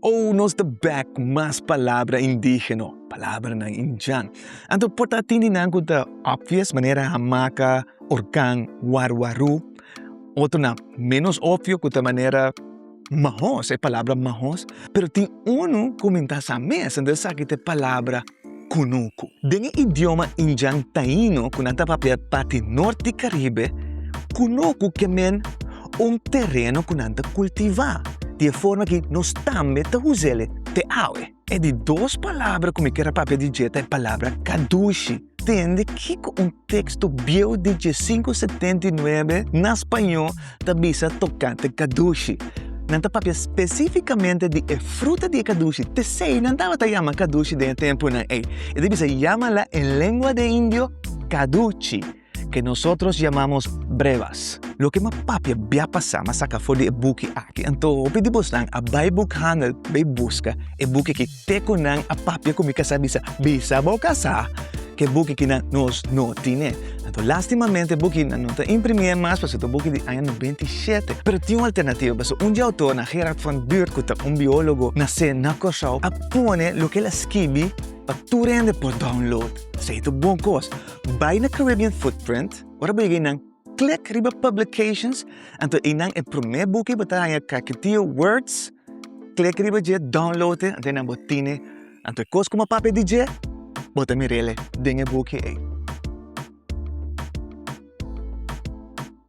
Oh, nos ta bek mas palabra indígeno, palabranan Indian. Anto por ta tin di nan ku ta obvious, manera hamaka, orkan, warwaru. Otronan ménos opvio ku ta manera mahos, e palabra mahos. Pero tin unu ku mi ta sa mes, entonces esaki ta e palabra Kunuku. Den e idioma Injan Taino ku nan ta papia parti norti Karibe, kunuku ke men un tereno ku nan ta kultivá, di e forma ki nos tambe ta us'el te awe. E di dos palabra ku mi kier a papia di dje ta e palabra kadushi. Tende kiko un teksto bieu di dje sinku setenta i nuebe na spañó. ta bisa tokante kadushi. Nan ta papia spesífikamente di e fruta di e kadushi, p'esei nan tabata yama kadushi den e tempunan ei. E ta bisa, Yama la en lengua de indio kaduchi, ke nosotros yamamos brevas. Loke m'a papia bia pasá, m'a saka for di e buki aki. Anto hopi di bosnan a bai bukhandel bai buska e buki aki. Te cu nan a papia cu mi casá bisa, bisa bo casá ke buki ki nan nos no tine. Anto lastimamente buki nan no ta imprimié mas pasobra ta buki di aña nobenta i shete. Pero tin un alternativa pasobra un di autor nan Gerard van Buurt cu ta un biologo nasé na Corsou a pone loke el a skibi pa tur hende por download. Esei ta un bon cos. Bay na Caribbean Footprint, ora bo yega ei nan. Klik riba Publications, anto einan e promé buki bo ta haña Kakitiyo Words, klik riba dje, download e, anto einan bo tine, anto e kos ku bo papia di dje, bo ta mir'e den e buki ei.